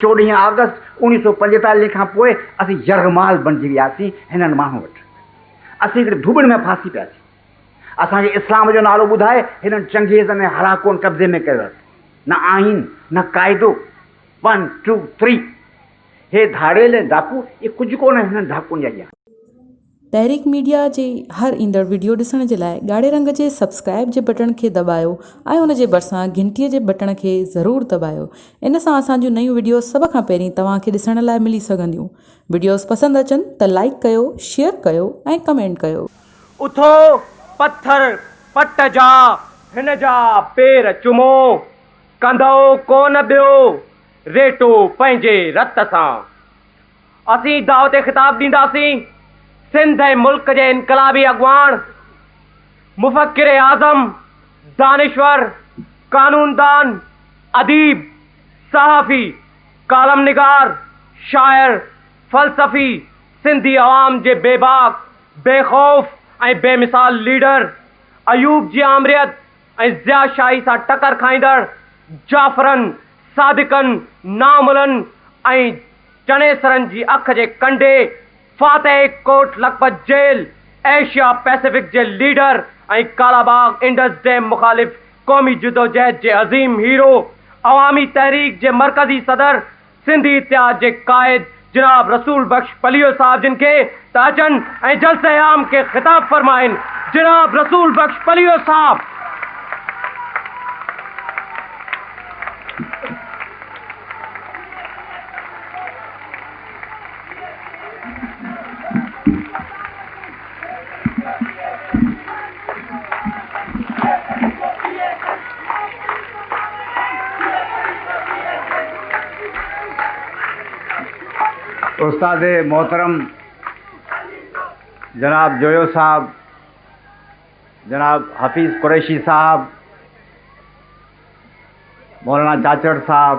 چوڏهين آگسٽ اوڻيهه سؤ پنجيتاليهه کان پوء اسين يرغمال بڻجي وياسين هنن ماڻهن وٽ. اسين هڪڙي ڌوٻڻ ۾ ڦاسي پياسين. اسان کي اسلام جو نالو ٻڌائي هنن چنگيز ۽ هلاڪون قبضي ۾ ڪيو اٿن. نه آئين، نه قاعدو. One, two, three. هي ڌاڙيل ۽ ڊاڪو اهي ڪجهه ڪونه هنن ڊاڪوئن جا ڄاڻ. تحريڪ ميڊيا جي هر ايندڙ وڊيو ڏسڻ جي لاء ڳاڙهي رنگ جي سبسڪرائب جي بٽڻ کي دٻايو ۽ ان جي ڀرسان گهنٽي جي بٽڻ کي ضرور دٻايو ان سان اسان جون نيون وڊيوز سڀ کان پهرين توهان کي ڏسڻ لاء ملي سگهنديون وڊيوز پسند اچن ته لائيڪ ڪيو شيئر ڪيو ۽ ڪمينٽ ڪيو. اٿو پٿر پٽ جا هن جا پير چمو ڪندؤ ڪونه ٻيو ريٽو پنهنجي رت سان. اسين دعوت خطاب ڏينداسين، سنڌ ۽ ملڪ جي انقلابي اڳواڻ، مفڪر اعظم، دانشور، قانوندان، اديب، صحافي، ڪالم نگار، شاعر، فلسفي، سنڌي عوام جي بي باڪ، بي خوف ۽ بي مثال ليڊر ايوب جي آمريت، ۽ ضياء شاهي سان ٽڪر کائيندڙ جعفرن، صادقن، ناملن ۽ چنيسرن جي اک جي ڪنڊي، فاتح Kot Lakhpat jail, Asia Pacific جي leader ۽ Kala Bagh Indus dam مخالف قومي جدوجهد جي عظيم هيرو، عوامي تحريڪ جي مرڪزي صدر، سنڌي اتحاد جي قائد جناب رسول بخش پليو صاحب جن کي ته اچن ۽ جلسه عام کي خطاب فرمائن جناب رسول بخش پليو صاحب استاد محترم جناب جويو صاحب جناب حفيظ قريشي صاحب مولانا چاچڙ صاحب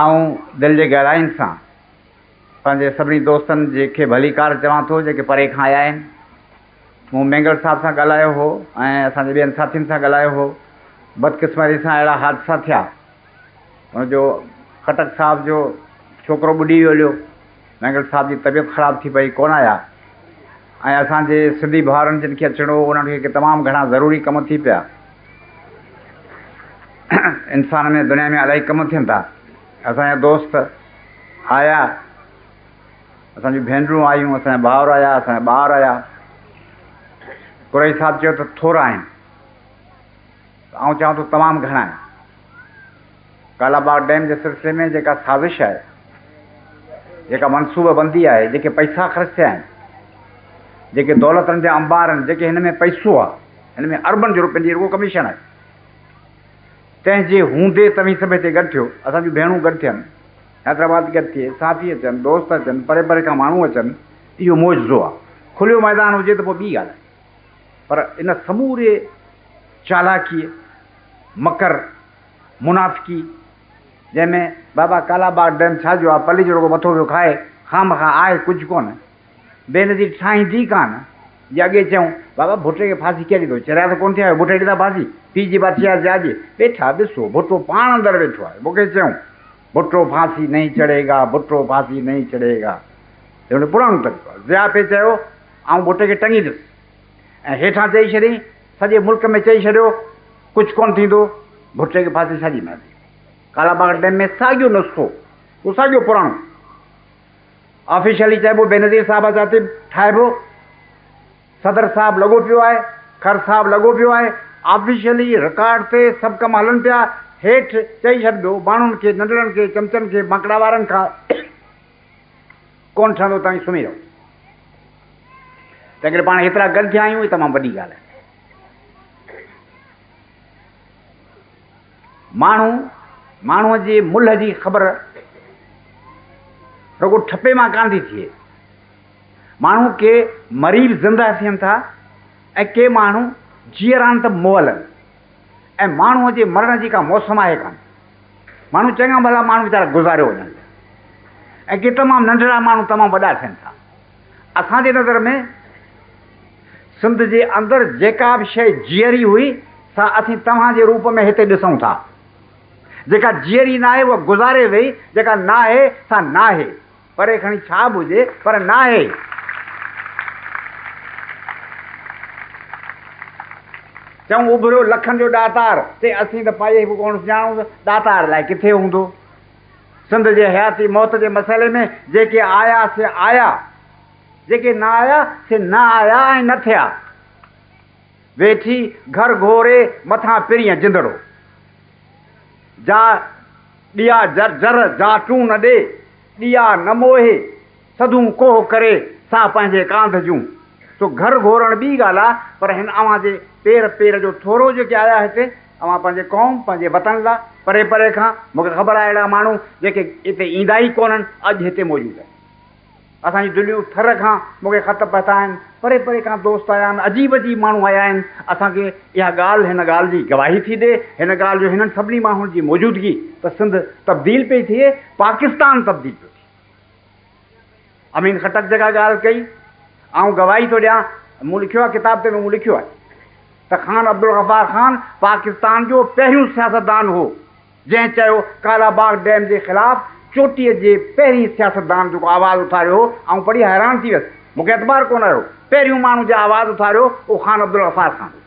آئون دل جي گهراين سان پنهنجي سڀني دوستن جي کي ڀليڪار چوان ٿو جيڪي پري کان آيا آهن. مون مينگل صاحب سان ڳالهايو هو ۽ اسان جي ٻين ساٿين سان ڳالهايو هو. بدقسمتي سان اهڙا حادثا ٿيا. ان جو خٽڪ صاحب جو ڇوڪرو ٻڏي ويو. مينگل صاحب جي طبيعت خراب ٿي پئي، ڪونه آيا ۽ اسان جي سنڌي ڀائرن جن کي اچڻو هو انهن کي تمام گهڻا ضروري ڪم ٿي پيا. انسان ۾ دنيا ۾ الاهي ڪم ٿين ٿا. اسان جا دوست آيا، اسان جون ڀينرون آيون، اسان جا ڀائر آيا، اسان جا ٻار آيا. قريشي صاحب چيو ته ٿورا آهن. آئون چاهيان ٿو تمام گهڻا آهن. ڪالا باغ ڊيم جي سلسلي ۾ جيڪا سازش آهي، جيڪا منصوبه بندي آهي، جيڪي پئسا خرچ ٿيا آهن، جيڪي دولتن جا انبار آهن، جيڪي هن ۾ پئسو آهي، هن ۾ اربن جو رپين جي رڳو ڪميشن آهي، تنهن جي هوندي توهين سڀ هتي گڏ ٿيو، اسان جون ڀيڻون گڏ ٿين، حيدرآباد گڏ ٿئي، صحافي اچن، دوست اچن، پري پري کان ماڻهو اچن، اهو معجزو آهي. کليو ميدان هجي ته پوء ٻي ڳالهه آهي. پر ان سموريء چالاڪيء، مڪر، منافقيء، جنهن ۾ بابا ڪالا باغ ڊيم ڇا جو آ، پليجو رڳو مٿو پيو کائي، خامخواه آهي ڪجهه ڪونه، بي نظير ٺاهين ٿي ڪانه، جي اڳي چئون، بابا ڀٽي کي ڦاسي ڪير ڏيندو، چريا ته ڪونه ٿيا آهيو، ڀٽي ڏيندا ڦاسي، پيء جي بات ڇا جي آجي، ويٺا ڏسو، ڀٽو پاڻ اندر ويٺو آهي، مون کي چئون، ڀٽو ڦاسي نهين چڙهيگا، ڀٽو ڦاسي نهين چڙهيگا، هي هن جو پراڻو طريقو آهي، ضياء پئي چيو. آئون ڀٽي کي ٽنگيندس ۽ هيٺان چئي ڇڏين، سڄي ملڪ ۾ چئي ڇڏيو، ڪجهه ڪونه ٿيندو، ڀٽي کي ڦاسي ساڳي ملندي. ڪالا باغ ڊيم ۾ ساڳيو نسخو، اهو ساڳيو پراڻو آفيشلي چئبو، بينظير صاحب جا طب ٺاهبو، صدر صاحب لڳو پيو آهي، کر صاحب لڳو پيو آهي، آفيشلي رڪارڊ تي سڀ ڪم هلن پيا، هيٺ چئي ڇڏبو، ماڻهن کي، ننڍڙن کي، چمچن کي، ماڪڙاوارن کان. ڪونه ٺهندو توهين سمهي رهو. تنهن ڪري پاڻ هيترا گڏ ٿيا آهيون اهي تمام وڏي ڳالهه آهي. ماڻهو ماڻهوء جي ملهه جي خبر رڳو ٺپي مان ڪانه ٿي ٿئي. ماڻهو ڪي مري به زنده ٿين ٿا ۽ ڪي ماڻهو جيئرا آهن ته مئل آهن. ۽ ماڻهوء جي مرڻ جي ڪا موسم آهي ڪانه. ماڻهو چڱا ڀلا ماڻهو ويچارا گذاريو وڃن ٿا ۽ ڪي تمام ننڍڙا ماڻهو تمام وڏا ٿين ٿا. اسان جي نظر ۾ سنڌ جي اندر جيڪا به شيء جيئري هئي سا اسين توهان جي روپ ۾ هتي ڏسون ٿا. جيڪا جيئري ناهي اها گذاري ويئي، جيڪا ناهي سا ناهي. پري کڻي ڇا به هجي پر ناهي. چئون اڀريو لکن جو ڏاتار تي اسين ته پائي به ڪونه سڃاڻوس ڏاتار الائي ڪٿي هوندو. سنڌ جي حياتي موت جي مسئلي ۾ جيڪي آيا سي آيا. جيڪي نه آيا سي نه آيا ۽ نه ٿيا. ويٺي گهر گهوري مٿان پرينء جندڙو. جا ڏيا جر جر جا ٽون نه ڏي، ڏيا نه موهي، سڌون ڪوهه ڪري سا پنهنجي ڪانڌ جون. سو گهر گهورڻ ٻي ڳالهه آ، پر هن اوهان جي پير پير جو ٿورو جيڪي آيا هتي، اوهان پنهنجي قوم، پنهنجي وطن لا، پري پري کان، مون کي خبر آ اهڙا ماڻهو جيڪي هتي ايندا ئي ڪونهن، اڄ هتي موجود آهن. اسان جون دليون ٿر کان مون کي خط پهتا آهن، پري پري کان دوست آيا آهن، عجيب عجيب ماڻهو آيا آهن، اسان کي اها ڳالهه هن ڳالهه جي گواهي ٿي ڏي، هن ڳالهه جو هنن سڀني ماڻهن جي موجودگي ته سنڌ تبديل پئي ٿئي، پاڪستان تبديل پيو ٿئي. امين خٽڪ جيڪا ڳالهه ڪئي، آئون گواهي ٿو ڏيان، مون لکيو آهي ڪتاب تنهن ۾ مون لکيو آهي ته خان عبدالغفار خان پاڪستان جو پهريون سياستدان هو، جنهن چيو ڪالا باغ ڊيم جي خلاف چوٽيء جي پهرين سياستدان جيڪو آواز اٿاريو هو، آئون پڙهي حيران ٿي ويس. مون کي اعتبار ڪونه رهيو. پهريون ماڻهو جنهن آواز اٿاريو اهو خان عبدالغفار خان هو.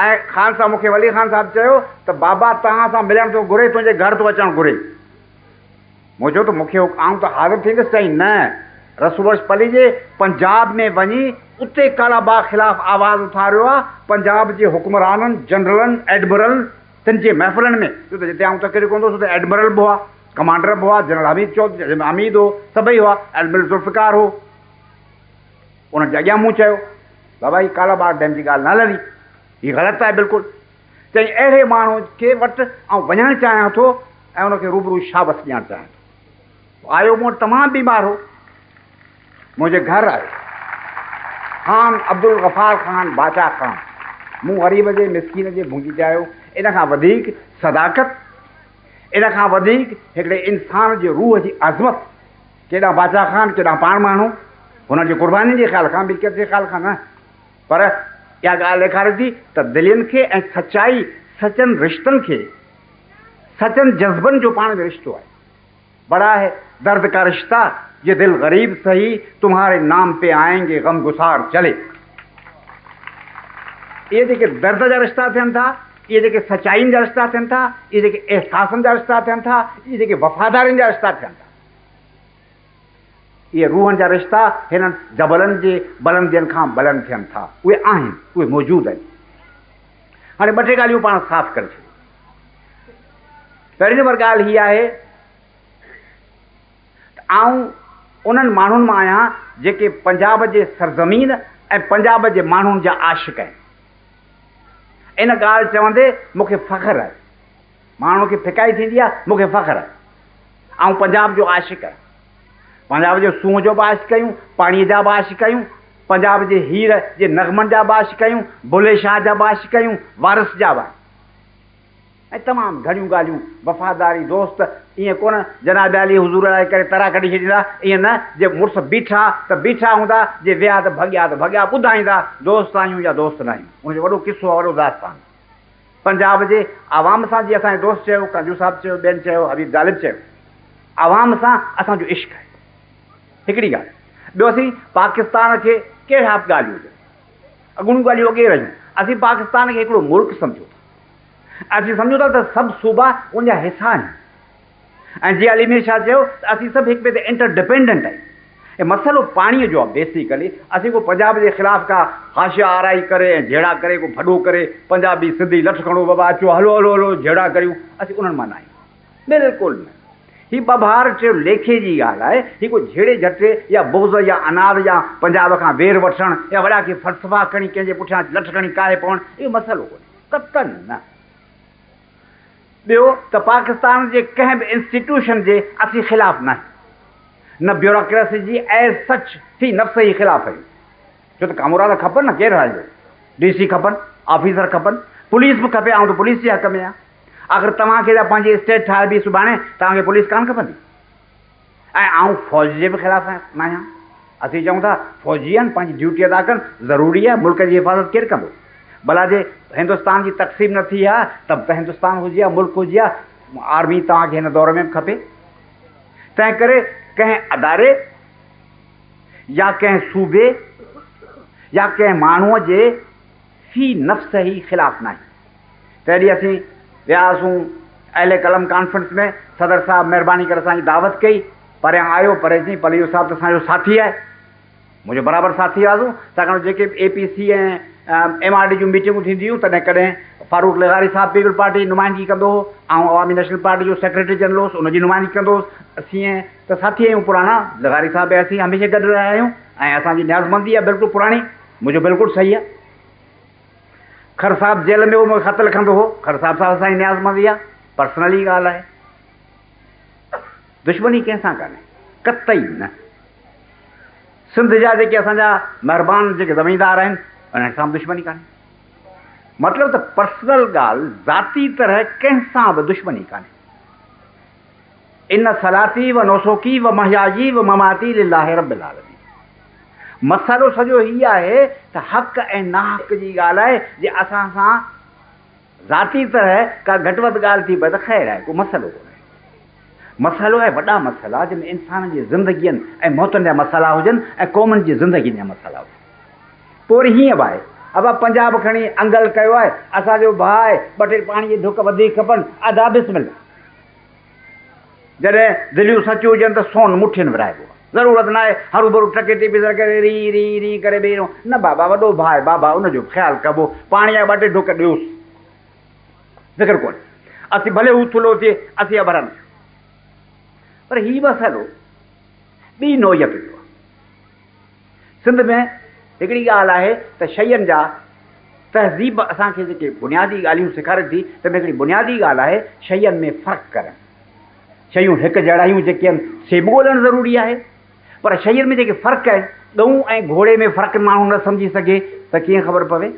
۽ خان صاحب مون کي ولي خان صاحب چيو ته بابا توهان سان ملڻ ٿو گهري تنهنجي گهر ٿو اچڻ گهري. مون چيو ته مون کي آئون ته حاضر ٿيندس چيائين نه رسوبخش پليجي پنجاب ۾ وڃي اتي ڪالا باغ خلاف آواز اٿاريو آ پنجاب جي حڪمرانن جنرلن ايڊمرلن تن جي محفلن ۾ ڇو ته جتي آئون تقرير ڪندو هوس اتي ايڊمرل به هئا، ڪمانڊر به هئا، جنرل حميد چوڌري عميد هو، سڀئي هئا، ايڊمرل ذوالفقار هو. انهن جي اڳيان مون چيو، بابا هي ڪالاباغ ڊيم جي ڳالهه نه هلندي، هي غلط آهي بلڪل. چيائين اهڙي ماڻهو کي وٽ آئون وڃڻ چاهيان ٿو ۽ ان کي روبرو شابس ڏيڻ چاهيان ٿو. هو آيو مون وٽ تمام بيمار هو. منهنجي گهر آيو خان عبدالغفار خان باچا خان مون غريب جي مسڪين جي ڀونجي چاهيو ان کان وڌيڪ صداقت ان کان وڌيڪ هڪڙي انسان جي روح جي عظمت ڪيڏانهن باچا خان ڪيڏانهن پاڻ ماڻهو هنن جي قربانين جي خيال کان ملڪيت جي خيال کان نه پر اها ڳالهه ڏيکاري ٿي ته دلين کي ۽ سچائي سچن رشتن کي سچن جذبن جو پاڻ ۾ رشتو آهي بڙا هي درد ڪا رشته يي دل غريب سهي تمهاري نام پي آئين گي غم گسار چلي اهي جيڪي درد جا رشتا ٿين ٿا اهي جيڪي سچائين جا رشتا ٿين ٿا اهي جيڪي احساسن جا رشتا ٿين ٿا اهي جيڪي وفادارين جا رشتا ٿين ٿا اهي روحن جا رشتا هنن جبلن جي بلندين کان بلند ٿين ٿا اهي آهن اهي موجود آهن هاڻي ٻه ٽي ڳالهيون پاڻ صاف ڪري ڇڏيون. پهرين نمبر ڳالهه هيء آهي ته آئون انهن ماڻهن مان آهيان جيڪي پنجاب جي سرزمين ۽ پنجاب جي ماڻهن جا عاشق آهن. ان ڳالهه چوندي مون کي فخر آهي. ماڻهن کي ڦڪائي ٿيندي آ مون کي فخر آ آئون پنجاب جو عاشق آهيان پنجاب جو سونهن جو به عاشق آهيون پاڻي جا به عاشق آهيون پنجاب جي هير جي نغمن جا به عاشق آهيون بلي شاهه جا به عاشق آهيون وارث جا به آهيون ۽ تمام گهڻيون ڳالهيون وفاداري دوست ائين ڪونه جناب عالي حضور لاء ڪري ترا ڪڍي ڇڏيندا ائين نه جي مڙس بيٺا ته بيٺا هوندا جي ويا ته ڀڳيا ته ڀڳيا ٻڌائيندا دوست آهيون يا دوست ناهيون ان جو وڏو قصو آ وڏو داستان آ. پنجاب جي عوام سان جي اسان جي دوست چيو، ڪنجو صاحب چيو، ٻين چيو، حبيب غالب چيو، عوام سان اسان جو عشق آهي. هڪڙي ڳالهه. ٻيو اسين پاڪستان کي ڪهڙا به ڳالهيون هجن، اڳوڻيون ڳالهيون اڳي رهيون، اسين پاڪستان کي هڪڙو ملڪ سمجهون ٿا. اسين سمجهون ٿا ته سڀ صوبا ان جا حصا آهن. ۽ جيئن علي مير شاهه چيو ته اسين سڀ هڪ ٻئي تي انٽر ڊپينڊنٽ آهيون ۽ مسئلو پاڻيء جو آهي بيسيڪلي اسين ڪو پنجاب جي خلاف ڪا حاشيه آرائي ڪري ۽ جهيڙا ڪري ڪو ڀڏو ڪري پنجابي سنڌي لٺ کڻو بابا اچو هلو هلو هلو جهيڙا ڪريون اسين انهن مان ناهيون بلڪل نه هي ٻڀار چيو ليکي جي ڳالهه آهي هي ڪو جهيڙي جهٽي يا بغض يا عناد يا پنجاب کان وير وٺڻ يا وڏا ڪي فلسفا کڻي ڪنهن جي پٺيان لٺ کڻي ڪاهي پوڻ اهو مسئلو ڪونهي قطعاً نه. ٻيو ته پاڪستان جي ڪنهن به انسٽيٽيوشن جي اسين خلاف ناهيون نه بيوراڪريسي جي ايز سچ في نفسه ئي خلاف آهيون ڇو ته ڪامورا ته کپن نه ڪير هارجي ڊي سي کپن آفيسر کپن پوليس به کپي آئون ته پوليس جي حق ۾ آهيان آخر توهان کي ته پنهنجي اسٽيٽ ٺاهبي سڀاڻي توهان کي پوليس ڪانه کپندي. ۽ آئون فوج جي به خلاف ناهيان. اسين چئون ٿا فوجيان پنهنجي ڊيوٽي ادا ڪرڻ ضروري آهي، ملڪ جي حفاظت ڪير ڪندو؟ ڀلا جي هندستان جي تقسيم نه ٿي ها ته به هندستان هجي ها ملڪ هجي ها آرمي توهان کي هن دور ۾ به کپي. تنهن ڪري ڪنهن اداري يا ڪنهن صوبي يا ڪنهن ماڻهوء جي في نفسه ئي خلاف ناهيان. تنهن ڏينهن اسين ويا هئاسون اهل قلم ڪانفرنس ۾، صدر صاحب مهرباني ڪري اسان جي دعوت ڪئي، پريان آيو پري چيائين پليجو صاحب ته اسان جو ساٿي آهي، منهنجو برابر ساٿي هئاسون، ڇاڪاڻ ته جيڪي به A P C ۽ M R D جون ميٽنگون ٿينديون هيون تڏهن ڪڏهن فاروق لغاري صاحب پيپلز پارٽي جي نمائندگي ڪندو هو، آئون عوامي نيشنل پارٽي جو سيڪريٽري جنرل هوس ان جي نمائندگي ڪندو هوس، اسين ته ساٿي آهيون پراڻا، لغاري صاحب ۽ اسين هميشه گڏ رهيا آهيون ۽ اسان جي نيازمندي آهي بلڪل پراڻي، منهنجو بلڪل صحيح آهي. کھر صاحب جيل ۾ ھو مونکي خط لکندو ھو. کھر صاحب سان اسان جي نيازمندي اھا پرسنلي ڳالھه آھي. دشمني ڪنھن سان ڪانھي. قطعي نه. سنڌ جا جيڪي اسان جا مھربان جيڪي زميندار آھن انھن سان به دشمني ڪانھي. مطلب ته پرسنل ڳالھه ذاتي طرح ڪنھن سان به دشمني ڪانھي. ان صلاتي و نسکي و محيايي و مماتي لله رب العالمين مسئلو سڄو هي آهي ته حق ۽ ناحق جي ڳالهه آهي جي اسان سان ذاتي طرح ڪا گهٽ وڌ ڳالهه ٿي پوي ته خير آهي ڪو مسئلو ڪونه آهي مسئلو آهي وڏا مسئلا جن انسانن جي زندگين ۽ موتن جا مسئلا هجن ۽ قومن جي زندگين جا مسئلا هجن پوء وري هيئن به آهي ابا پنجاب کڻي انگل ڪيو آهي اسان جو ڀاء آهي ٻه ٽي پاڻي جي ڍڪ وڌيڪ کپن ادا بسم الله. جڏهن دليون سچيون هجن ته سون مٺين ورهائبو آهي. ضرورت ناهي هروڀرو ٽڪي تي بيسر ڪري ري ري ري ڪري بيهي رهون. نه بابا، وڏو ڀاء آهي بابا، ان جو به خيال ڪبو. پاڻي جا ٻه ٽي ڍڪ ڏيوس. فڪر ڪونهي. اسين ڀلي هو ٿلهو ٿئي، اسين اڀرندا آهيون. پر هي مسئلو ٻي نوعيت جو آهي. سنڌ ۾ هڪڙي ڳالهه آهي ته شين جا تهذيب اسان کي جيڪي بنيادي ڳالهيون سيکاري ٿي تن ۾ هڪڙي بنيادي ڳالهه آهي شين ۾ فرق ڪرڻ. شيون هڪ جهڙايون جيڪي آهن سي به ڳولهڻ ضروري آهي پر شين ۾ جيڪي فرق آهن ڳئون ۽ گهوڙي ۾ فرق ماڻهو نه سمجهي سگهي ته ڪيئن خبر پوي؟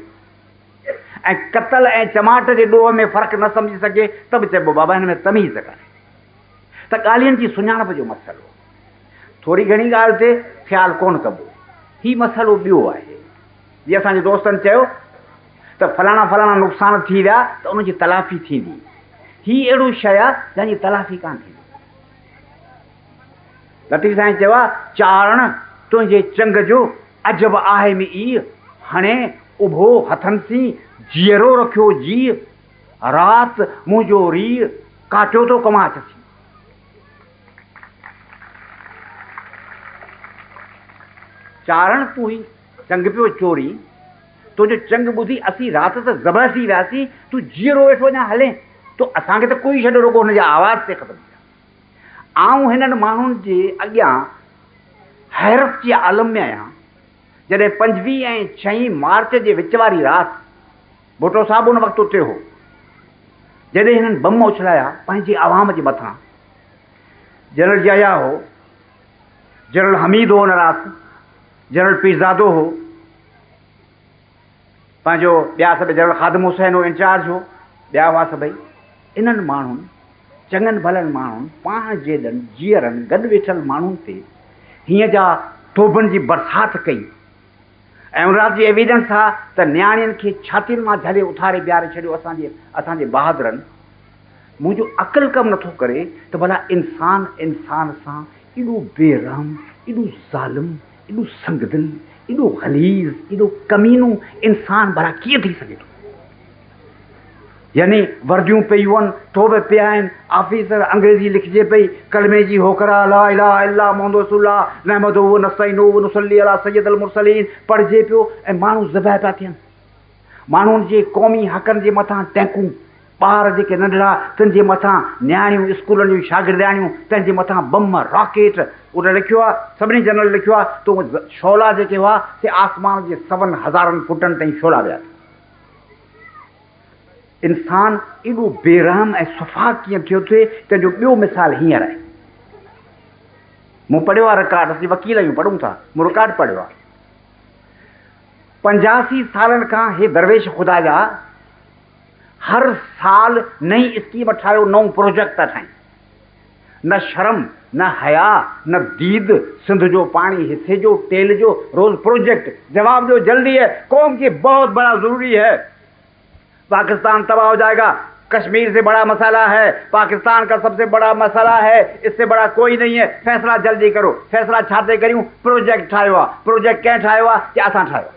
۽ قتل ۽ چماٽ جي ڏوهه ۾ فرق نه سمجهي سگهي ته به چئبو بابا هن ۾ تميز ڪانهي. ته ڳالهين جي سڃاڻپ جو مسئلو. ٿوري گهڻي ڳالهه تي خيال ڪونه ڪبو. هي مسئلو ٻيو آهي. جي اسان جي دوستن چيو ته فلاڻا فلاڻا نقصان ٿي ويا ته ان جي تلافي ٿيندي. هي اهڙو شيء آهي جنهن جي تلافي ڪانه ٿيندي. لطيف سائين چيو آهي چارڻ تنهنجي چنگ جو عجب آهي م اي هڻي اڀو هٿن سين جيئرو رکيو جيء رات منهنجو ريء ڪاٽيو تو ڪماچ سين. چارڻ تون هي چنگ پيو چوري، تنهنجو چنگ ٻڌي اسين رات ته ذبح ٿي وياسين، تون جيئرو ويٺو اڃا هلين ٿو، اسان کي ته ڪوئي ڇڏ رڳو هن جي آواز تي ختم ٿيا. آئون هنن ماڻهن جي اڳيان حيرت جي عالم ۾ آهيان، جڏهن پنجويهه ۽ ڇهين مارچ جي وچ واري رات، ڀٽو صاحب ان وقت اتي هو، جڏهن هنن بم اڇلايا پنهنجي عوام جي مٿان. جنرل يحيٰ هو، جنرل حميد هو ان رات، جنرل پيرزادو هو، پنهنجو ٻيا سڀ جنرل خادم حسين هو انچارج هو، ٻيا هئا سڀئي. انهن ماڻهن، چڱن ڀلن ماڻهن، پاڻ جيڏن جيئرن گڏ ويٺل ماڻهن تي هيئن جا توبن جي برسات ڪئي. ايمرالجي ايويڊنس ٿا ته نياڻين کي ڇاتين مان جهلي اٿاري بيهاري ڇڏيو اسان جي اسان جي بهادرن منهنجو عقل ڪم نٿو ڪري ته ڀلا انسان انسان سان ايڏو بي رحم ايڏو ظالم ايڏو سنگدل ايڏو غليظ ايڏو ڪمينو انسان ڀلا ڪيئن ٿي سگهي ٿو. يعني ورديون پيون، ٿوٻ پيا آهن، آفيسر، انگريزي لکجي پئي، ڪلمي جي هوڪرا، لا اله الا محمد رسول الله، نحمده و نستعينه و نصلي علي سيد المرسلين، پڙهجي پيو ۽ ماڻهو ذبح پيا ٿين. ماڻهن جي قومي حقن جي مٿان ٽينڪون، ٻار جيڪي ننڍڙا تن جي مٿان نياڻيون، اسڪولن جون شاگردياڻيون تن جي مٿان بم، راڪيٽ، ان لکيو آهي، سڀني جنرل لکيو آهي ته شعلا جيڪي هئا سي آسمان جي سون هزارن فوٽن تائين شعلا ويا ٿي. انسان ايڏو بي رحم ۽ سفاھ ڪيئن ٿيو ٿئي تنهن جو ٻيو مثال هينئر آهي. مون پڙهيو آهي رڪارڊ، اسين وڪيل آهيون پڙهون ٿا، مون رڪارڊ پڙهيو آهي. پنجاسي سالن کان هي درويش خدا جا هر سال نئين اسڪيم ٺاهيو نئون پروجيڪٽ ٿا ٺاهين. نه شرم نه حياء نه ديد سنڌ جو پاڻي حصي جو ٽيل جو روز پروجيڪٽ جواب ڏيو جلدي هي قوم ڪي بهت بڙا ضروري هي پاڪستان تباهه هو جائي گا ڪشمير سي بڙا مسئلا هي پاڪستان ڪا سب سي بڙا مسئلا هي اس سي بڙا ڪوئي نهي هي فيصلا جلدي ڪرو فيصلا ڇا تي ڪريون پروجيڪٽ ٺاهيو آ پروجيڪٽ ڪنهن ٺاهيو آ ڪي اسان ٺاهيو آ.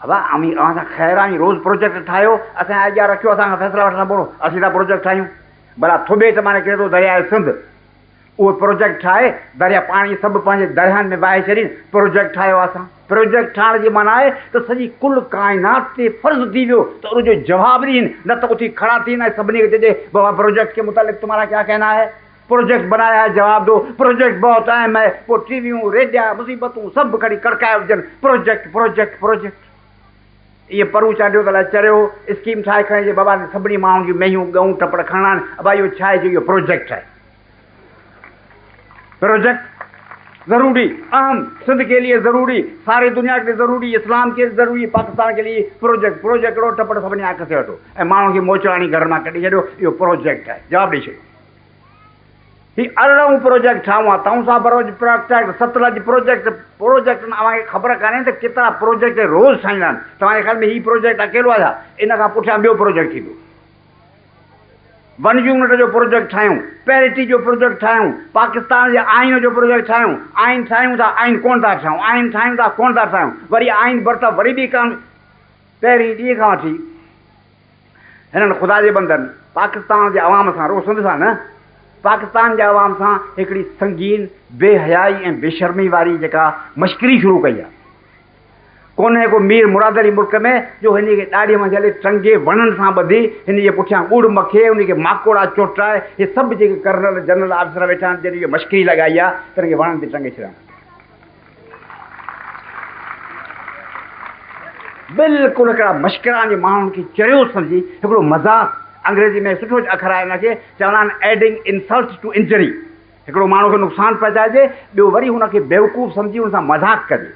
ابا اوهين اوهان سان خير آهي روز پروجيڪٽ ٺاهيو اسان جي اڳيان رکيو اسان کان فيصلا وٺندا پوڙهو اسين ٿا پروجيڪٽ ٺاهيون ڀلا ٿٻي تي معني ڪري ٿو درياء سنڌ اهو پروجيڪٽ ٺاهي دريا پاڻي سڀ پنهنجي درياهن ۾ وهائي ڇڏين پروجيڪٽ ٺاهيو اسان پروجيڪٽ ٺاهڻ جي معنيٰ آهي ته سڄي ڪل ڪائنات تي فرض ٿي ويو ته ان جو جواب ڏين نه ته اٿي کڙا ٿين ۽ سڀني کي چئجي بابا پروجيڪٽ ڪي متعلق تمهارا ڪيا ڪهنا هي پروجيڪٽ بناء آء جواب ڏو، پروجيڪٽ بهت اهم آهي، پوء ٽي ويون، ريڊيا، مصيبتون سڀ کڻي ڪڙڪائي وجهن، پروجيڪٽ پروجيڪٽ پروجيڪٽ. ايئن پرون چانڊيو ته الاء چريو اسڪيم ٺاهي کڻي جي بابا تي سڀني ماڻهن جون مينهيون، ڳئون، ٽپڙ کڻڻا آهن، ابا اهو ڇا آهي جو اهو پروجيڪٽ آهي. پروجيڪٽ ضروري، اهم، سنڌ ڪي ليئي ضروري، ساري دنيا ڪي ليئي ضروري، اسلام ڪي ضروري، پاڪستان ڪي ليئي پروجيڪٽ پروجيڪٽ ڳڙو ٽپڙ سڀني آء کسي وٺو ۽ ماڻهن کي موچڙاڻي گهرن مان ڪڍي ڇڏيو اهو پروجيڪٽ آهي جواب ڏئي ڇڏيو. هي ارڙهون پروجيڪٽ ڇا هئا؟ تئونسا بروج پراڪٽيڪٽ، ستلج پروجيڪٽ، پروجيڪٽن اوهان کي خبر ڪانهي ته ڪيترا پروجيڪٽ روز ٺهندا آهن؟ توهان جي خيال ۾ هي پروجيڪٽ اڪيلو آهي ڇا؟ ان کان پٺيان ٻيو پروجيڪٽ ٿيندو. ون يونٽ جو پروجيڪٽ ٺاهيون، پيرٽي جو پروجيڪٽ ٺاهيون، پاڪستان جي آئين جو پروجيڪٽ ٺاهيون، آئين ٺاهيون ٿا آئين ڪونه ٿا ٺاهيون، آئين ٺاهيون ٿا ڪونه ٿا ٺاهيون، وري آئين برطرف وري ٻي ڪانون پهرين ڏينهن کان وٺي. هنن خدا جي بندن پاڪستان جي عوام سان رڳو سنڌ سان نه پاڪستان جي عوام سان هڪڙي سنگين بي حيائي ۽ بي شرمي واري جيڪا مشڪري شروع ڪئي آ ڪونهي ڪو مير مراد علي ملڪ ۾ جو هن کي ڏاڙهي مان جهلي ٽنگي وڻن سان ٻڌي هن جي پٺيان ڳڙ مکي ان کي ماڪوڙا چوٽائي هي سڀ جيڪي ڪرنل جنرل آفيسر ويٺا آهن جن اهي مشڪري لڳائي آ تن کي وڻن تي ٽنگي ڇڏيان. بلڪل هڪڙا مشڪران جي ماڻهن کي چريو سمجهي هڪڙو مذاق انگريزي ۾ سٺو اکر آهي ان کي چوندا آهن ايڊنگ انسلٽ ٽو انجري هڪڙو ماڻهو کي نقصان پهچائجي ٻيو وري هن کي بيوقوف سمجهي هن سان مذاق ڪجي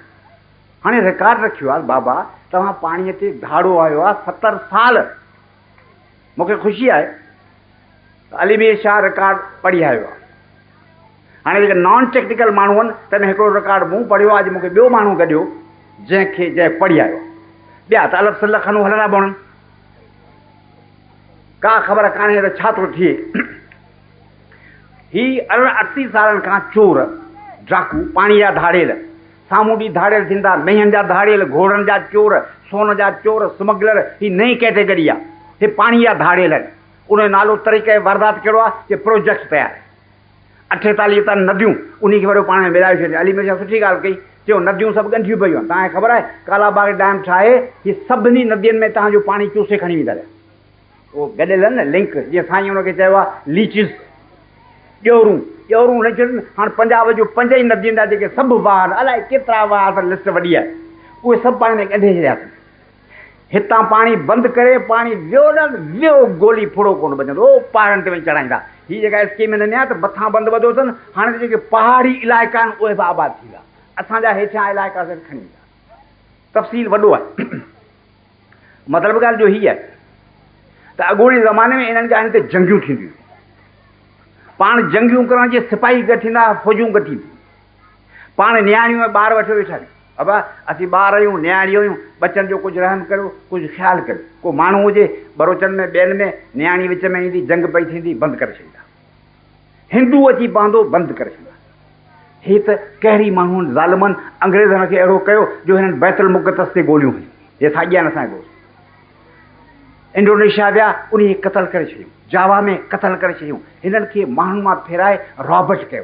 هاڻي رڪارڊ رکيو آهي بابا توهان پاڻي تي ڌاڙو آيو آهي ستر سال مونکي خوشي آهي علي مير شاهه رڪارڊ پڙهي آيو آهي هاڻي جيڪي نان ٽيڪنيڪل ماڻهو آهن تن ۾ هڪڙو رڪارڊ مون پڙهيو آهي اڄ مون کي ٻيو ماڻهو گڏيو جنهن کي جنهن پڙهي آيو آهي ٻيا ته الف سلف کنو هلندا بهنن ڪا خبر ڪانهي ته ڇا ٿو ٿئي هي ارڙهن اٺٽي سالن کان چور ڊاڪو پاڻي جا ڌاڙيل سامونڊي ڌاڙيل ٿيندا مينهن جا ڌاڙيل گهوڙن جا چور سون جا چور سمگلر هي نئين ڪيٽيگري آهي هي پاڻي جا ڌاڙيل آهن ان جو نالو طريقه واردات ڪهڙو آهي جو پروجيڪٽ تيار آهي اٺيتاليهه تن نديون انهي کي وڏو پاڻ ۾ ملائي ڇڏيا. علي ميرشاهه سٺي ڳالهه ڪئي، چيو نديون سڀ ڳنڍيون پيون آهن، توهان کي خبر آهي ڪالا باغ ڊيم ٺاهي هي سڀني ندين ۾ تهان جو پاڻي چوسي کڻي ويندا رهيا. اهو گڏيل آهن نه لنڪ، جيئن سائينء ان کي چيو آهي ليچز، ڄورون، ڄورون لنڪ ٿيون آهن. هاڻ پنجاب جون پنج ئي ندين جا جيڪي سڀ واهر، الائي ڪيترا واهر اٿن لسٽ وڏي آهي، اهي سڀ پاڻ ۾ ڳنڍي ڇڏياسين. هتان پاڻي بند ڪري پاڻي ويو نه ويو گولي ڦڙو ڪونه بچندو او پهاڙن تي وڃي چڙهائيندا هي جيڪا اسڪيم هن نيا ته مٿان بند ٻڌو اٿن هاڻي ته جيڪي پهاڙي علائقا آهن اهي به آباد ٿيندا اسان جا هيٺيان علائقا سر کڻي ويندا تفصيل وڏو آهي مطلب ڳالهه جو هي آهي ته اڳوڻي زماني ۾ انهن جاين تي جنگيون ٿينديون پاڻ جنگيون ڪرڻ جي سپاهي گڏ ٿيندا فوجون گڏ ٿينديون پاڻ نياڻيون ٻار وٺي ويٺا ابا! اسين ٻار آهيون، نياڻيون آهيون، ٻچن جو ڪجهه رحم ڪريو، ڪجهه خيال ڪريو. ڪو ماڻهو هجي، ٻروچن ۾ ٻين ۾، نياڻي وچ ۾ ايندي، جنگ پئي ٿيندي، بند ڪري ڇڏيندا. هندو اچي پوندو، بند ڪري ڇڏيندا. هي ته قهري ماڻهن، ظالمن، انگريزن کي اهڙو ڪيو، جو هنن بيت المقدس تي گوليون هنيون. هي ساڳيا آهن اسان جا دوست. انڊونيشيا ويا، انهيء کي قتل ڪري ڇڏيو. جاوا ۾ قتل ڪري ڇڏيو. هنن کي ماڻهن مان ڦيرائي رابرٽ ڪيو.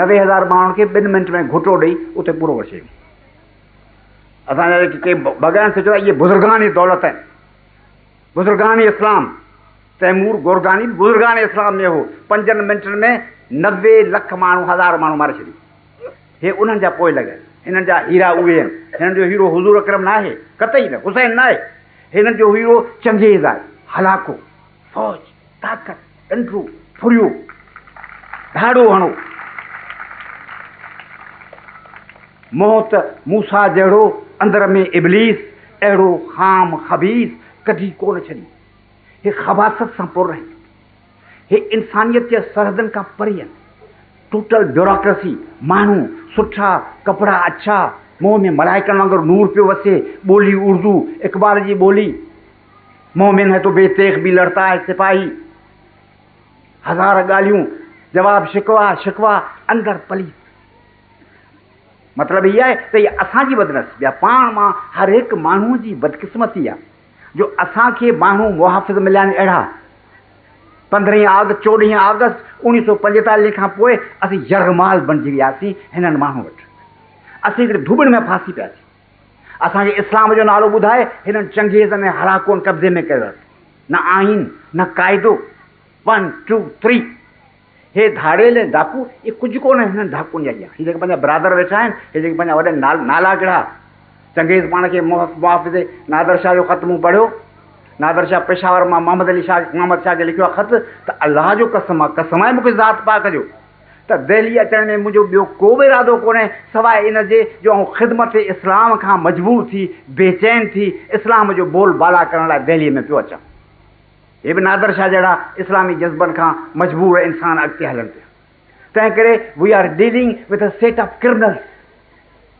نوي هزار ماڻهن کي ٻن منٽ ۾ گهوٽو ڏئي اتي پورو ڪري ڇڏيون. اسان جا جيڪي ڪي بئگا آهن سوچيو ته اهي بزرگان دولت آهن، بزرگان اسلام، تيمور گورگاني به بزرگان اسلام ۾ هو، پنجن منٽن ۾ نوي لک ماڻهو هزار ماڻهو ماري ڇڏيون. هي انهن جا پوئلڳ آهن، هنن جا هيرا اهي آهن، هنن جو هيرو حضور اڪرم ناهي، قطعي نه، حسين ناهي، هنن جو هيرو چنگيز آهي، هلاڪو، فوج، طاقت. ڍنڍرو ڦريو، ڌاڙو هڻو، منهن ته موسيٰ جهڙو، اندر ۾ ابليس اهڙو خام خبيث ڪڍي ڪونه ڇڏيو. هي خباثت سان پر آهن. هي انسانيت جي سرحدن کان پري آهن. ٽوٽل بيوراڪرسي، ماڻهو سٺا، ڪپڙا اڇا، منهن ۾ ملائڪن وانگر نور پيو وسي، ٻولي اردو، اقبال جي ٻولي. مومن هي تو بي تيغ بي لڙتا هي سپاهي هزار ڳالهيون جواب شڪوا شڪوا اندر پليت مطلب هي آهي ته هي اسان جي بدنصيبي آهي پاڻ مان هر هڪ ماڻهو جي بدقسمتي آهي جو اسان کي ماڻهو محافظ مليا آهن اهڙا پندرهين آگ چوڏهين آگسٽ اوڻيهه سو پنجيتاليهه کان پوء اسين يرغمال بڻجي وياسين هنن ماڻهن وٽ اسين هڪڙي ڌوٻڻ ۾ ڦاسي پياسين اسان کي اسلام جو نالو ٻڌائي هنن چنگيزن ۽ هلاڪون قبضي ۾ ڪيو اٿن. نه آئين، نه قاعدو، ون ٽو ٿري. هي ڌاڙيل ۽ ڊاڪو اهي ڪجهه ڪونه هنن ڊاڪون جا اهي جيڪي پنهنجا برادر ويٺا آهن اهي جيڪي پنهنجا وڏن نال نالا ڪڙها. چنگيز پاڻ کي محافظي نادر شاهه جو خط مون پڙهيو. نادر شاهه پشاور مان محمد علي شاهه محمد شاهه کي لکيو آهي خط ته الله جو قسم آهي قسم آهي مون کي ذات پاڪ جو. ته دهليء اچڻ ۾ منهنجو ٻيو ڪو به ارادو ڪونهي سواء ان جي جو آئون خدمت اسلام کان مجبور ٿي، بيچين ٿي، اسلام جو بول بالا ڪرڻ لاء دهليء ۾ پيو اچان. هي به نادر شاهه جهڙا اسلامي جذبن کان مجبور انسان اڳتي هلن پيا. تنهنڪري we are dealing with a set of criminals.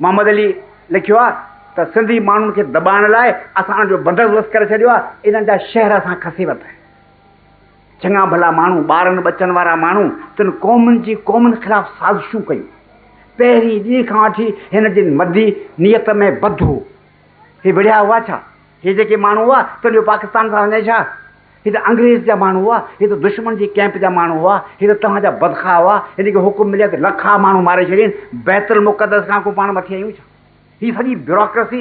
Muhammad Ali لکيو آهي ته سنڌي ماڻهن کي دٻائڻ لاء اسان انهن جو بندوبست ڪري ڇڏيو آهي، انهن جا شهر اسان کسي ورتا آهن. چڱا ڀلا ماڻهو، ٻارن ٻچن وارا ماڻهو تن قومن جي قومن خلاف سازشون ڪيون. پهرين ڏينهن کان وٺي هن جن مدي نيت ۾ بڌ هو. هي وڙهيا هئا ڇا؟ هي جيڪي ماڻهو هئا تن جو پاڪستان سان وڃي ڇا؟ هي ته انگريز جا ماڻهو هئا، هي ته دشمن جي ڪئمپ جا ماڻهو هئا، هي ته توهان جا بدخواهه هئا، هن کي حڪم ملي ها ته لکها ماڻهو ماري ڇڏين، بيت المقدس کان ڪو پاڻ مٿي آهيون ڇا؟ هي سڄي بيوروڪريسي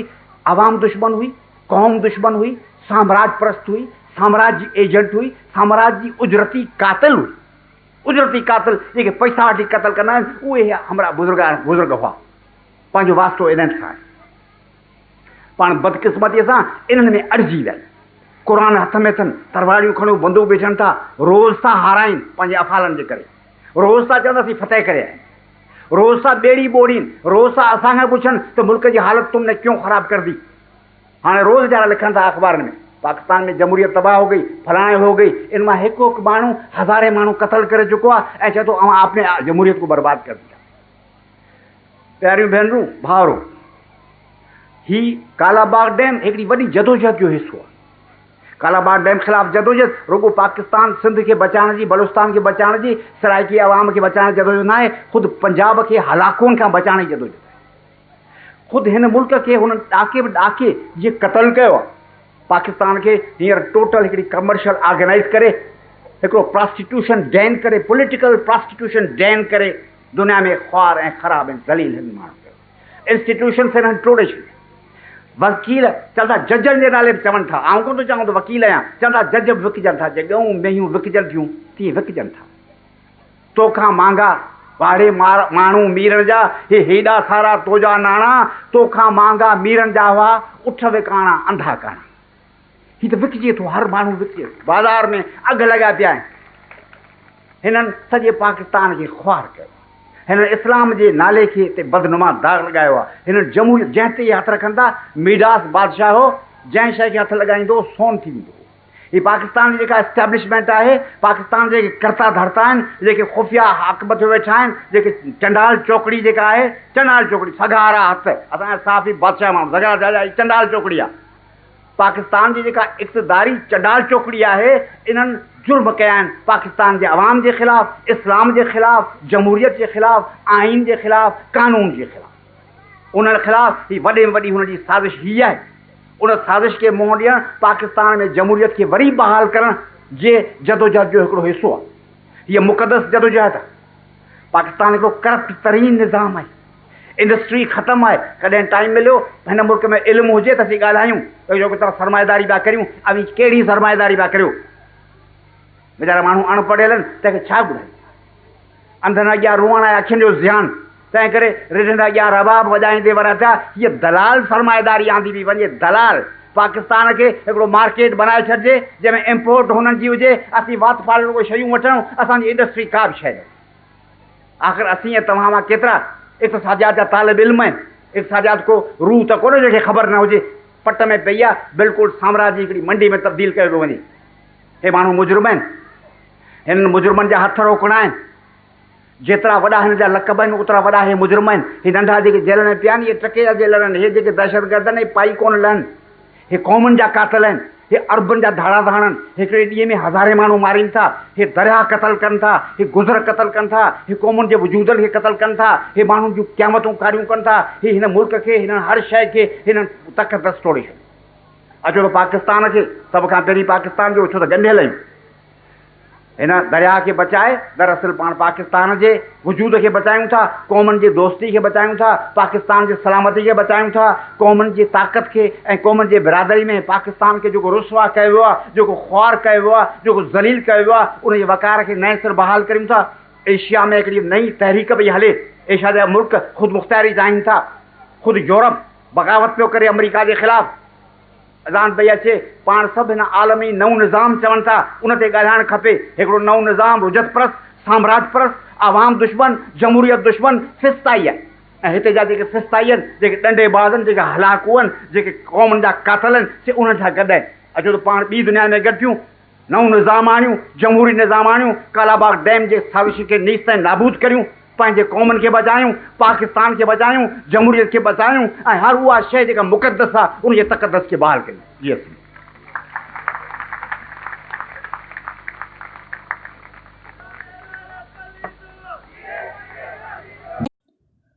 عوام دشمن هئي، قوم دشمن هئي، سامراج پرست هئي، سامراج جي ايجنٽ هئي، سامراج جي اجرتي قاتل هئي. اجرتي قاتل جيڪي پئسا وٺي قتل ڪندا آهن، اهي همراهه بزرگ هئا. پنهنجو واسطو انهن سان آهي. پاڻ بدقسمتيء سان انهن ۾ اڙجي ويا آهيون. قرآن هٿ ۾ اٿن، ترواڙيون کڻيون بندوق ويجهن ٿا، روز ٿا هارائين پنهنجي افعالن جي ڪري. روز ٿا چون ته اسين فتح ڪري آيا آهيون. روز ٿا ٻيڙي ٻوڙين، روز ٿا اسان کان پڇن ته ملڪ جي حالت تم نه ڪيون خراب ڪر دي. هاڻي روز جهڙا لکن ٿا اخبارن ۾ پاڪستان ۾ جمهوريت تباهه هو گئي، فلاڻي هو گئي، ان مان هڪ هڪ ماڻهو هزارين ماڻهو قتل ڪري چڪو آهي ۽ چئي ٿو اوهان آپني جمهوريت ڪو برباد ڪر ديا. پياريون ڀينرون، ڀائرو! هي ڪالا باغ ڊيم هڪڙي وڏي جدوجهد جو حصو آهي. ڪالا باغ ڊيم خلاف جدوجهد رڳو پاڪستان سنڌ کي بچائڻ جي، بلوچستان کي بچائڻ جي، سرائيڪي عوام کي بچائڻ جي جدوجهد ناهي، خود پنجاب کي هلاڪون کان بچائڻ جي جدوجهد آهي. خود هن ملڪ کي هن ڏاڪي به ڏاڪي جيئن قتل ڪيو آهي. پاڪستان کي هينئر ٽوٽل هڪڙي ڪمرشل آرگنائيز ڪري، هڪڙو پراسٽيٽيوشن ڊين ڪري، پوليٽيڪل پراسٽيٽيوشن ڊين ڪري، دنيا ۾ خوار ۽ خراب ۽ ذليل هن ماڻهن ڪيو. انسٽيٽيوشنس هنن ٽوڙي ڇڏيا. وڪيل چوندا ججن جي نالي به چون ٿا. آئون ڪونه ٿو چوان ته وڪيل آهيان. چوندا جج به وڪجن ٿا. جيئن ڳئون مينهيون وڪجن ٿيون تيئن وڪجن ٿا. تو کان مهانگا واڙي ماڻهو ميرڻ جا هي هيڏا سارا تو جا ناڻا تو کان مهانگا ميرڻ جا هئا اٺ وڪاڻا انڌا ڪاڻا. هي ته وڪجي ٿو، هر ماڻهو وڪجي ٿو، بازار ۾ اگهه لڳا پيا آهن، هنن سڄي پاڪستان کي خوار ڪيو آهي، هنن اسلام جي نالي کي تي بدنما داغ لڳايو آهي، هنن جمهوريت جنهن تي اهي هٿ رکن ٿا، ميڊاس بادشاهه هو، جنهن شيء کي هٿ لڳائيندو هو، سون ٿي ويندو هو. هي پاڪستان جي جيڪا اسٽيبلشمينٽ آهي، پاڪستان جا جيڪي ڪرتا ڌرتا آهن، جيڪي خفيه حق مٿيو ويٺا آهن، جيڪي چنڊال چوڪڙي جيڪا آهي، چنڊال چوڪڙي، سگهارا هٿ، اسان جا صحافي بادشاهه ماڻهو، سگهارا چئبا آهن، هي چنڊال چوڪڙي آهي. پاڪستان جي جيڪا اقتداري چنڊال چوڪڙي آهي انهن جرم ڪيا آهن پاڪستان جي عوام جي خلاف، اسلام جي خلاف، جمهوريت جي خلاف، آئين جي خلاف، قانون جي خلاف. انهن خلاف هي وڏي ۾ وڏي هن جي سازش هي آهي. ان سازش کي منهن ڏيڻ پاڪستان ۾ جمهوريت کي وري بحال ڪرڻ جي جدوجهد جو هڪڙو حصو آهي. هيء مقدس جدوجهد آهي. پاڪستان هڪڙو ڪرپٽ ترين نظام آهي. انڊسٽري ختم آهي ڪڏهن ٽائيم مليو هن ملڪ ۾ علم هجي ته اسين ڳالهايون ته جيڪو توهان سرمائيداري پيا ڪريون اوهين ڪهڙي سرمائيداري پيا ڪريو ويچارا ماڻهو اڻ پڙهيل آهن تنهن کي ڇا ٻڌايون انڌن اڳيان روئڻ آهي اکين جو زيان تنهن ڪري رڍن اڳيان رباب وڄائيندي وريا ٿيا هيء دلال سرمائيداري آندي پئي وڃي دلال پاڪستان کي هڪڙو مارڪيٽ بنائي ڇڏجي جنهن ۾ امپورٽ هنن جي هجي اسين وات ڦاڙڻ ڪوئي شيون وٺون اسان جي انڊسٽري ڪا به شيء نه هجي آخر اسين ۽ توهان مان ڪيترا اقتصاديات جا طالب علم آهن. اقتصاديات ڪو روح ته ڪونهي جنهن کي خبر نه هجي. پٽ ۾ پئي آهي، بلڪل سامراج جي هڪڙي منڊي ۾ تبديل ڪيو پيو وڃي. هي ماڻهو مجرم آهن. هنن مجرمن جا هٿ روڪڻا آهن. جيترا وڏا هن جا لقب آهن اوترا وڏا هي مجرم آهن. هي ننڍا جيڪي جيلن ۾ پيا آهن اهي ٽڪي جا جيلر آهن. هي جيڪي دهشتگردن اهي پائي ڪونه لهن. هي قومن جا قاتل آهن. هي عربن جا ڌاڙا ڌاڻن. هڪڙي ڏينهن ۾ هزارين ماڻهو مارين ٿا. هي درياهه قتل ڪن ٿا. هي گذر قتل ڪن ٿا. هي قومن جي وجودن کي قتل ڪن ٿا. هي ماڻهن جون قيامتون ڪاريون ڪن ٿا. هي هن ملڪ کي، هنن هر شيء کي، هنن تقدس ٽوڙي ڇڏيو. اچو ته پاڪستان کي، سڀ کان پهرين پاڪستان جو، ڇو ته ڳنڍيل آهيون. هن درياهه کي بچائي دراصل پاڻ پاڪستان جي وجود کي بچايون ٿا، قومن جي دوستي کي بچايون ٿا، پاڪستان جي سلامتي کي بچايون ٿا، قومن جي طاقت کي ۽ قومن جي برادري ۾ پاڪستان کي جيڪو رسوا ڪيو ويو آهي، جيڪو خوار ڪيو ويو آهي، جيڪو ذليل ڪيو ويو آهي، ان جي وقار کي نئين سر بحال ڪريون ٿا. ايشيا ۾ هڪڙي نئين تحريڪ پئي هلي، ايشيا جا ملڪ خودمختياري چاهين ٿا، خود يورپ بغاوت پيو ڪري آمريڪا جي خلاف، اذان پئي اچي، پاڻ سڀ هن عالمي نئون نظام چون ٿا، ان تي ڳالهائڻ کپي، هڪڙو نئون نظام رجعت پرست، سامراج پرست، عوام دشمن، جمهوريت دشمن، فسطائي آهي ۽ هتي جا جيڪي فسطائي آهن، جيڪي ڏنڊي باز آهن، جيڪي هلاڪو آهن، جيڪي قومن جا قاتل آهن، سي انهن سان گڏ آهن. اچو ته پاڻ ٻي دنيا ۾ گڏ ٿيون. نئون نظام آڻيون، جمهوري نظام آڻيون، ڪالاباغ ڊيم جي سازشين کي نيست ۽ نابود ڪريون، پنهنجي قومن کي بچايون، پاڪستان کي بچايون، جمهوريت کي بچايون ۽ هر اها شيء جيڪا مقدس آ، ان جي تقدس کي بحال ڪيون. جي اسين.